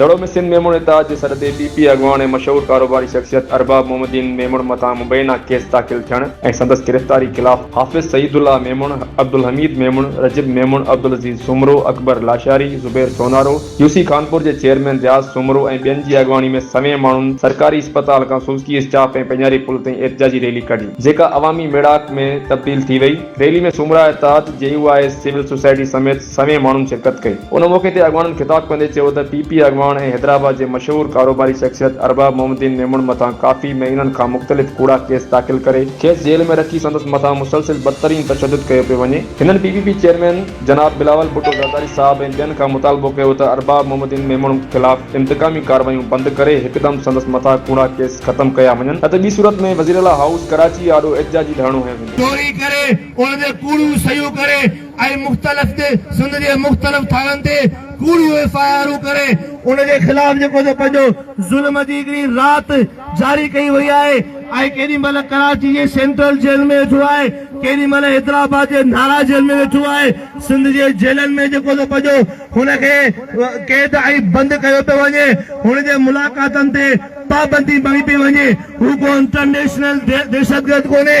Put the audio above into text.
دڙو ۾ سنڌ ميمڻ اتحاد جي سڏ تي پي پي اڳواڻ ۽ مشهور ڪاروباري شخصيت ارباب محمدين ميمڻ مٿان مبينا ڪيس داخل ٿيڻ ۽ سندس گرفتاري خلاف Hafiz Saeedullah Memon, Abdulhamid Memon, Rajab Memon, Abdulaziz Soomro, Akbar Lashari, Zubair Sonaro, U C Khanpur جي چيئرمين رياض سومرو ۽ ٻين جي اڳواڻي ۾ سوين ماڻهن سرڪاري اسپتال کان سوزڪي اسٽاپ ۽ پيڃاري پل تائين احتجاجي ريلي ڪڍي، جيڪا عوامي ميڙاڪ ۾ تبديل ٿي وئي، rally ۾ Soomra Ittehad, J U I S, civil society سميت سوين ماڻهن شرڪت ڪئي. ان موقعي تي اڳواڻن خطاب ڪندي چيو ته پي پي اڳواڻ ۽ حيدرآباد جي مشهور ڪاروباري شخصيت ارباب محمد الدين ميمڻ مٿان ڪافي مهينن کان مختلف ڪوڙا ڪيس داخل ڪري کيس جيل ۾ رکي سندس مٿان مسلسل بدترين تشدد ڪيو پيو وڃي. هنن پي پي پي چيئرمين جناب بلاول ڀٽو زرداري صاحب ۽ ٻين کان مطالبو ڪيو ته ارباب محمد الدين ميمڻ خلاف انتقامي ڪارروايون بند ڪري هڪدم سندس مٿان ڪوڙا ڪيس ختم ڪيا وڃن نه ته ٻي صورت ۾ وزيراعليٰ هائوس ڪراچي آڏو احتجاجي ڌرڻو هنيو ويندو. چوري ڪري ان تي ڪوڙيون سهيون ڪري ۽ مختلف تي سنڌ جي مختلف ٿاڻن تي ڪوڙيون ايف آء آرون ڪري ان جي خلاف جيڪو سو پنهنجو ظلم جي هڪڙي رات جاري ڪئي وئي آهي ۽ ڪيڏي مهل ڪراچي جي سينٽرل جيل ۾ ويٺو آهي ڪيڏي مهل حيدرآباد جي نارا جيل ۾ ويٺو آهي سنڌ جي جيلن ۾ جيڪو سو پنهنجو هن کي قيد ۽ بند ڪيو پيو وڃي هن جي ملاقاتن تي پابندي ڀري پئي وڃي هو ڪو انٽرنيشنل دهشتگرد ڪونهي